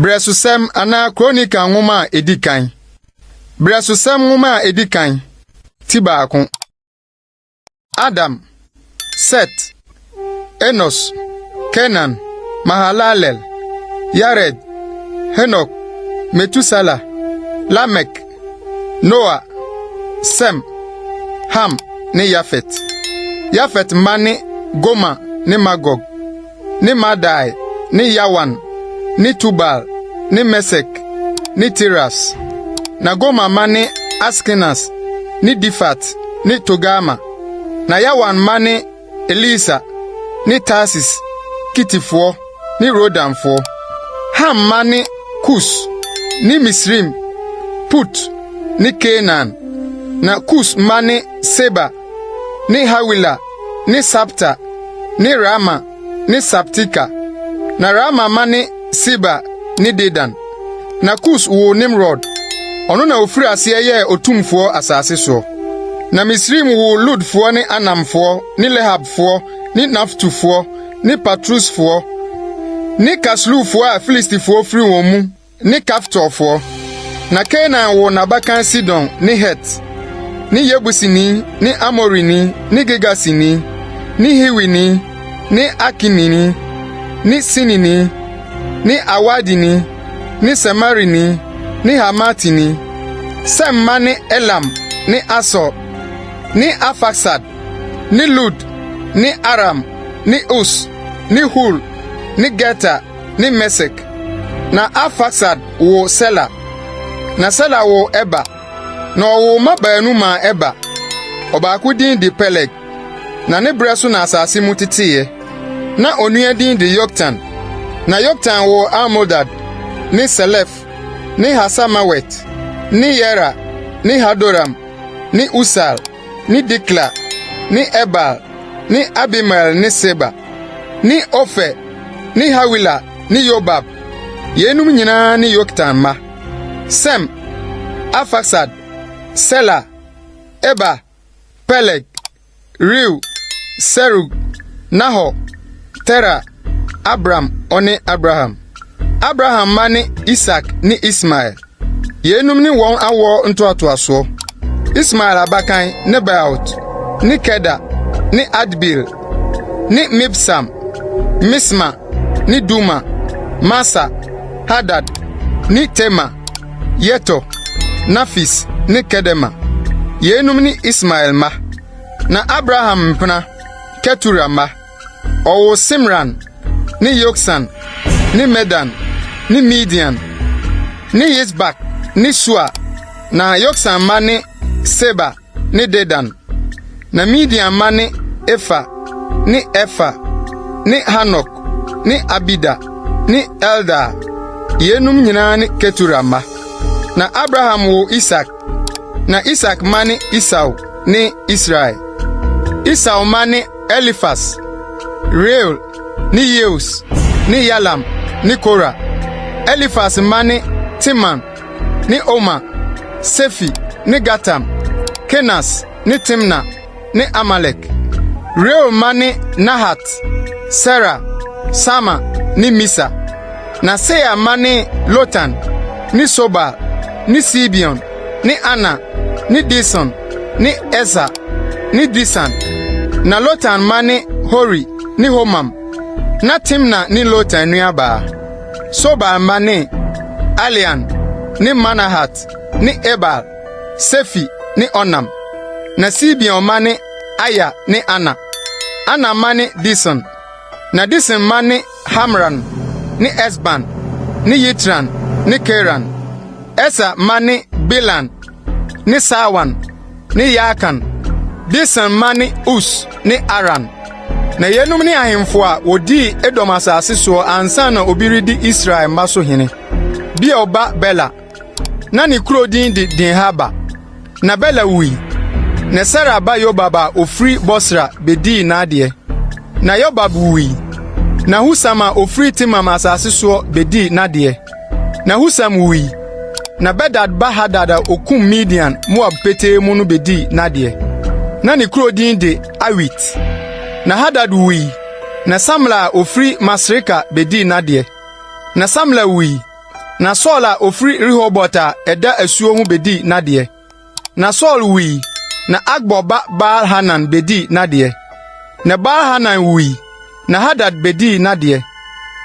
Brɛsosɛm anaa Kronika nwoma a edi kan. Brɛsosɛm nwoma a edi kan ti baako. Adam, Set, Enos, Kenan, Mahalalel, Yared, Henok, Metusala, Lamek, Noa, Sem, Ham ne Yafet. Yafet mma ne Goma ne Magog ne Madai ne Yawan ne Tubal ne Mesek ne Tiras. Na Goma mma ne Askenas ne Difat ne Togama. Na Yawan mma ne Elisa ne Tarsis, Kitifoɔ ne Rodanfoɔ, Ham mma ne Kus ne Misraim, Put ne Kanaan. Na Kus mma ne Seba ne Hawila ne Sabta ne Raama ne Sabteka. Na Raama mma ne Seba ne Dedan. Na Kus woo Nimrod. Ɔno na ɔfirii aseɛ yɛɛ ɔtumfoɔ asase soɔ. Na Misraim woo Lodfoɔ ne Anamfoɔ ne Lehabfoɔ ne Naftufoɔ ne Patrusfoɔ ne Kasluhfoɔ a Filistifoɔ firi wɔn mu ne Kaftorfoɔ. Na Kanaan woo n'abakan Sidon ne Het ne Yebusini ne Amorini ne Girgasini ne Hiwini ne Akimini ne Sinini ne Arwadini ne Samarini ne Hamatini, Sem mma ne Elam ne Asur ne Arfaksad ne Lud ne Aram ne Us ne Hul ne Geter ne Mesek. Na Arfaksad woo Sela, na Sela woo Eber. Na ɔwoo mma baanu maa Eber. Ɔbaako din de Peleg, na ne berɛ so na asase mu teteeɛ. Na onua din de Yoktan. Na Yoktan woo Almodad ne Selef ne Hasamawet ne Yera ne Hadoram ne Usal ne Dikla ne Ebal ne Abimael ne Seba ne Ofer ne Hawila ne Yobab. Yeinom nyinaa ne Yoktan mma. Sem, Arfaksad, Sela, Eber, Peleg, Reu, Serug, Nahor, Tera, Abram ne Abraham. Abraham mma ne Isak ne Ismael. Yeinom ne wɔn awoɔ ntoatoasoɔ. Ismael abakan Nebaeot ne Keda ne Adbeel ne Mibsam, Misma ne Duma, Masa, Hadad, ne Tema, Yetɔ, Nafis, ne Kedema. Yeinom ne Ismael mma. Na Abraham mpena Ketura mma. Ɔwoo Simran ne Yoksan ne Medan ne Midian ne Yisbak ne Sua. Na Yoksan mma ne Seba, ne Dedan. Na Midian mma ne Efa ne Efa ne Hanok ne Abida ne Eldaa. Yeinom nyinaa ne Ketura mma. Na Abraham woo Isak. Na Isak mma ne Esau ne Israel. Esau mma ne Elifas, Reuel ne Yeus ne Yalam ne Kora. Elifas mma ne Teman ne Oma, Sefi ne Gatam, Kenas ne Timna ne Amalek. Reuel mma ne Nahat, Sera, Sama ne Misa. Na Seir mma ne Lotan ne Sobal ne Sibeon ne Ana ne Dison ne Eser ne Disan. Na Lotan mma ne Hori ne Homam. Ná Timna ne Lotan nuabaa. Sobal mma ne, Alian ne Manahat ne Ebal, Sefi ne Onam. Na Sibeon mma ne Aya ne Ana. Ana mma ne Dison. Na Dison mma ne Hamran ne Esban ne Yitran ne Keran. Eser mma ne Belan ne Saawan. ne Yaakan, Disan mma ne Us ne Aran. Na yeinom ne ahemfo a wɔdii Edom asase soɔ ansa na obi redi Israel mma so hene. Beor ba Bela, na ne kuro din de Dinhaba. Na Bela wui, na Sera ba Yobab a ɔfiri Bosra bɛdii n'adeɛ. Na Yobab wuui, na Husam a ɔfiri Teman asase soɔ bɛdii n'adeɛ. Na Husam wui, na Bedad ba Hadad a okum Midian Moab petee mu no bedii n'adeɛ. Na ne kuro din de Awit. Na Hadad wui, na Samla a ofiri Masreka bedii n'adeɛ. Na Samla wui, na Saul a ofiri Rehobot a ɛda asuo ho bedii n'adeɛ. Na Saul wui, na Akbor ba Baal-Hanan bedii n'adeɛ. Na Baal-Hanan wui, na Hadad bedii n'adeɛ.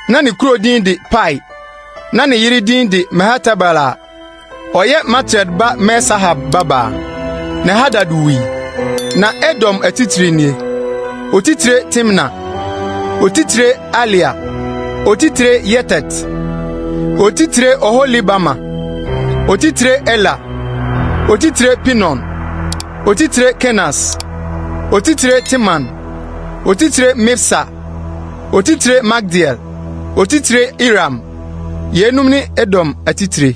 Na ne kuro din de Pai, na ne yere din de Mehetabel a ɔyɛ Matred ba Me-Sahab babaa. Na Hadad wui. Na Edom atitire nie: otitire Timna, otitire Alia, otitire Yetet, otitire Oholibama, otitire Ela, otitire Pinon, otitire Kenas, otitire Teman, otitire Mibsa, otitire Magdiel, otitire Iram. Yeinom ne Edom atitire.